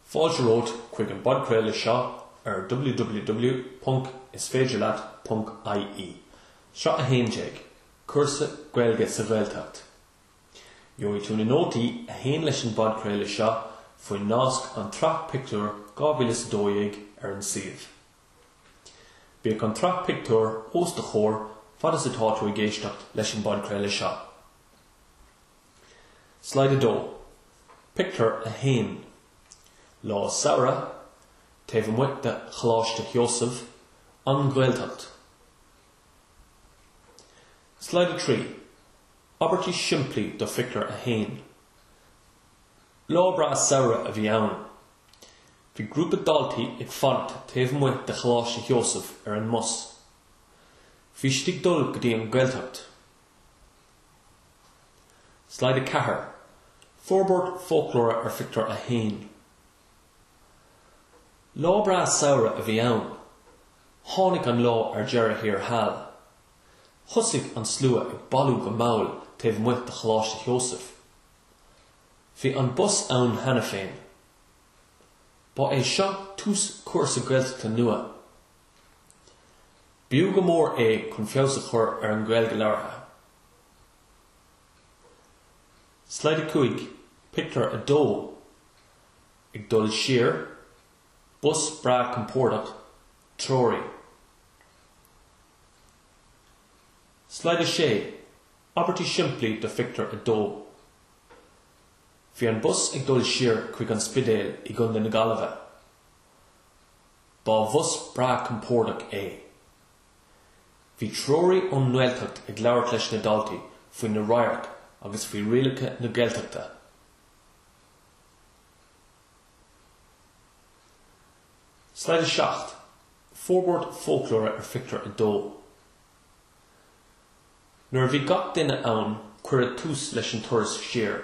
Fáilte romhat chuig an bpodchraoladh seo ar www.isféidirleat.ie, Sraith 11, Cúrsa Gaeilge sa Ghaeltacht. Gheobhaidh tú na nótaí a théann leis an bpodchraoladh seo faoin nasc An tSraith Pictiúr 2012 ar an suíomh. Bíodh an tsraith pictiúr os do chomhair fad is atá tú ag éisteacht leis an bpodchraoladh seo. Slide 2, Pictiúr 1 Lá samhraidh taobh amuigh de Choláiste Sheosaimh, An Ghaeltacht. Slide 3, Abairtí simplí do Phictiúr 1 Lá breá samhraidh a bhí ann. Bhí grúpa daltaí ag fanacht taobh amuigh de Choláiste Sheosaimh ar an mbus. Bhí siad ag dul go dtí an Ghaeltacht. Slide 4, Forbairt foclóra ar Phictiúr 1 Lá breá samhraidh a bhí ann. Tháinig an lá ar deireadh thiar thall. Thosaigh an slua ag bailiú go mall taobh amuigh de Choláiste Sheosaimh. Bhí an bus ann cheana féin. Ba é seo tús cúrsa Gaeltachta nua. B'fhiú go mór é chun feabhas a chur ar an Ghaeilge labhartha. Slide 5, Pictiúr 2 Ag dul siar, bus breá compordach, treoraí. Slide 6, Abairtí simplí do Phictiúr 2 Bhí an bus ag dul siar chuig an Spidéal i gContae na Gaillimhe. Ba bhus breá compordach é. Bhí treoraí ón nGaeltacht ag labhairt leis na daltaí faoi na radhairc agus faoi rialacha na Gaeltachta. Slide 7, Forbairt foclóra ar Phictiúr 2 Nuair a bhí gach duine ann cuireadh tús leis an turas siar.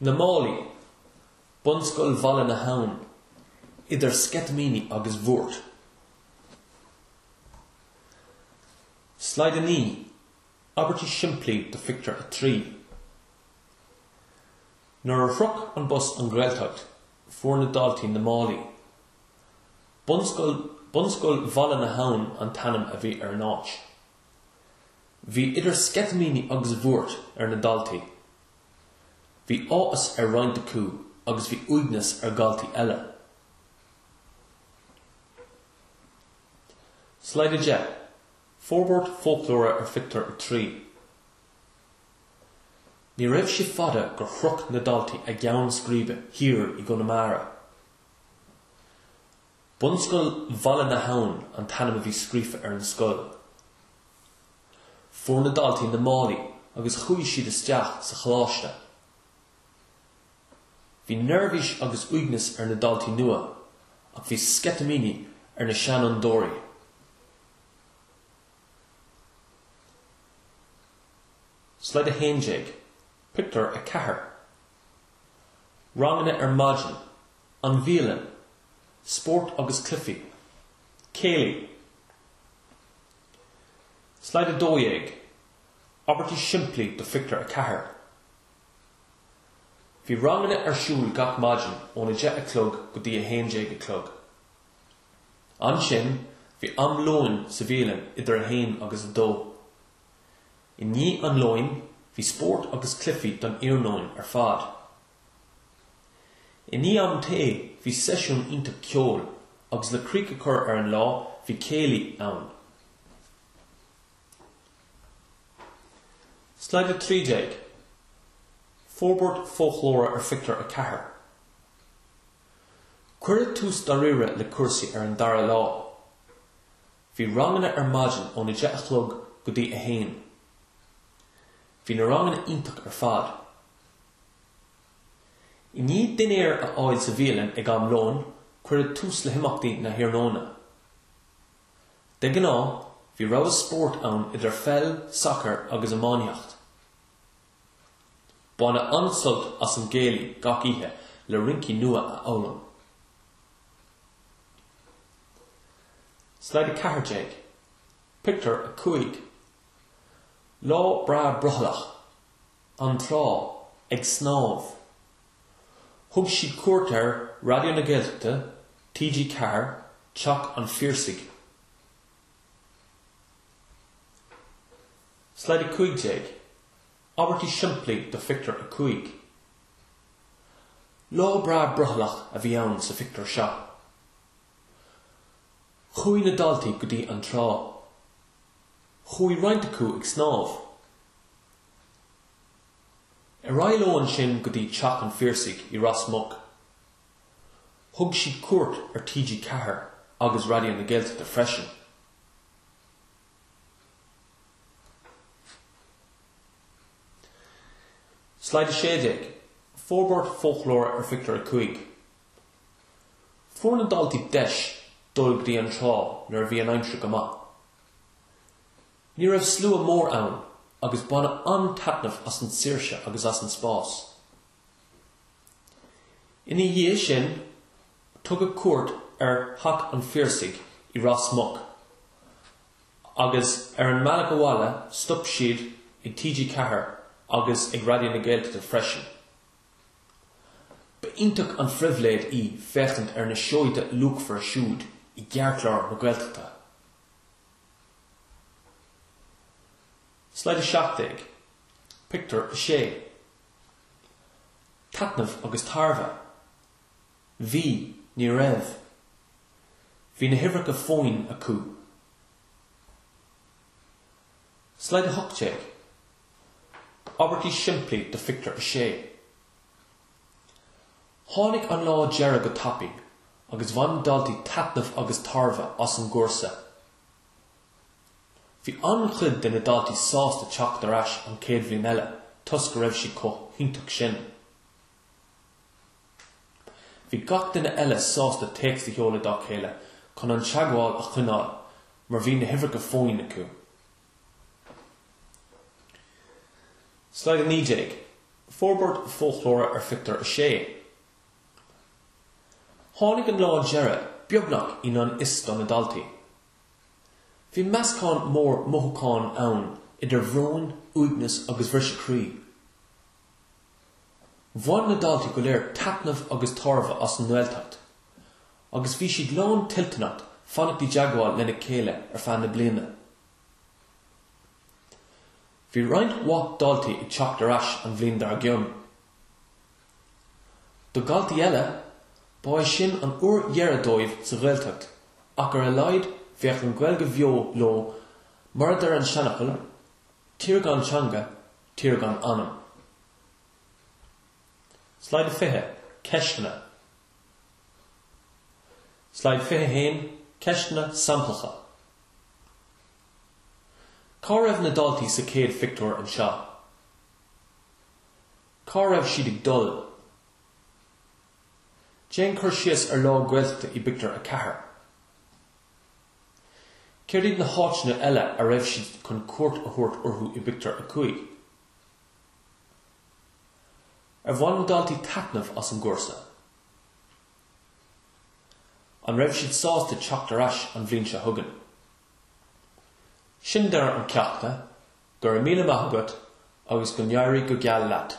Na málaí, Bunscoil Bhaile na hAbhann, idir sceitimíní agus bhuairt. Slide 9, Abairtí simplí do phictiúr a trí. Nuair a shroich an bus an Ghaeltacht, fuair na daltaí na málaí. Bunscoil Bhunscoil Bhaile na hAbhann an t-ainm a bhí ar an áit. Bhí idir sceitimíní agus bhuairt ar na daltaí. Bhí áthas ar roinnt acu agus bhí uaigneas ar dhaltaí eile. Slide 10, Forbairt Foclóra ar Phictiúr a 3 Ní raibh sé fada gur shroich na daltaí a gceann scríbe thiar i gConamara. Bunscoil Bhaile na hAbhann an t-ainm a bhí scríofa ar an scoil. Fuair na daltaí na málaí agus chuaigh siad isteach sa choláiste. Bhí neirbhís agus uaigneas ar na daltaí nua ach bhí sceitimíní ar na seanfhondúirí. Slide 11, Pictiúr a 4 Ranganna ar maidin. An bhialann, spórt agus cluichí, céilí. Slide 12, Abairtí simplí do Phictiúr a Ceathair Bhí ranganna ar siúl gach maidin óna 10 a chlog go dtí a 11 a chlog. Ansin bhí am lóin sa bhialann idir a 1 agus a 2. I ndiaidh an lóin bhí spórt agus cluichí don iarnóin ar fad. I ndiaidh am tae bhí seisiún iontach ceoil agus le críoch a chur ar an lá bhí céilí ann. Slide 13, Forbairt foclóra ar phictiúr a ceathair Cuireadh tús dáiríre le cúrsaí ar an dara lá. Bhí ranganna ar maidin óna deich a chlog go dtí a haon. Bhí na ranganna iontach ar fad. I ndiaidh dinnéar a fháil sa bhialann ag am lóin, cuireadh tús le himeachtaí na hiarnóna. De ghnáth, bhí rogha spóirt ann idir pheil, sacar agus iománaíocht. Baineadh an-sult as an gcéilí gach oíche le rincí nua a fhoghlaim. Slide 14, Pictiúr a 5. Lá breá brothallach. An trá, ag snámh. Thug siad cuairt ar Raidió na Gaeltachta, TG4, Teach an Phiarsaigh. Slide 15, Abairtí simplí do phictiúr 5. Lá breá brothallach a bhí ann sa phictiúr seo. Chuaigh na daltaí go dtí an trá. Chuaigh roinnt acu ag snámh. Ar aghaidh leo ansin go dtí Teach an Phiarsaigh i Ros Muc. Thug siad cuairt ar TG Ceathair agus Raidió na Gaeltachta freisin. Slide 16, Forbairt foclóra ar Phictiúr 5. Fuair na daltaí deis dul go dtí an trá nuair a bhí an aimsir go maith. Ní raibh slua mór ann agus baineadh an-taitneamh as an tsaoirse agus as an spás. Ina dhiaidh sin, tugadh cuairt ar Theach an Phiarsaigh i Ros Muc agus ar an mbealach abhaile stop siad ag TG4 agus ag Raidió na Gaeltachta freisin. Ba iontach an phribhléid í féachaint ar na seoda luachmhara siúd i gceartlár na Gaeltachta. Slide 17, Pictiúr 6 Taitneamh agus tairbhe Bhí, ní raibh Bhí na huimhreacha fóin acu. Slide 18, Abairtí simplí do phictiúr a sé. Tháinig an lá deireadh go tapaidh agus bhain na daltaí taitneamh agus tairbhe as an gcúrsa. Bhí an-chuid de na daltaí sásta teacht ar ais an chéad bhliain eile toisc go raibh sé chomh hiontach sin. Bhí gach duine eile sásta téacs a sheoladh dá chéile chun an teagmháil a choinneáil mar bhí na huimhreacha fóin acu. Slide 19, Forbairt Foclóra ar Phictiúr 6 Tháinig an lá deireadh beagnach i ngan fhios do na daltaí. Bhí meascán mór mothúcháin ann idir bhróin, uaigneas agus bhriseadh croí. Bhain na daltaí go léir taitneamh agus tairbhe as an nGaeltacht agus bhí siad lán toilteanach fanacht i dteagmháil lena chéile ar feadh na bliana. Bhí roinnt mhaith daltaí ag teacht ar ais an bhliain dár gcionn. Do dhaltaí eile, ba é sin an uair dheireanach dóibh sa Ghaeltacht ach ar a laghad bheadh an Ghaeilge bheo leo mar a deir an seanfhocal, Tír gan teanga, Tír gan anam. Slide fiche, Ceisteanna Slide fiche haon, Ceisteanna samplacha Cá raibh na daltaí sa chéad phictiúr anseo? Cá raibh siad ag dul? Déan cur síos ar lá Gaeltachta i bpictiúr a ceathair. Céard iad na háiteanna eile a raibh siad chun cuairt a thabhairt orthu i bpictiúr a cúig? Ar bhain na daltaí taitneamh as an gcúrsa? An raibh siad sásta teacht ar ais an bhliain seo chugainn? Sin deireadh an cheachta, go raibh míle maith agat agus go n-éirí go geal leat!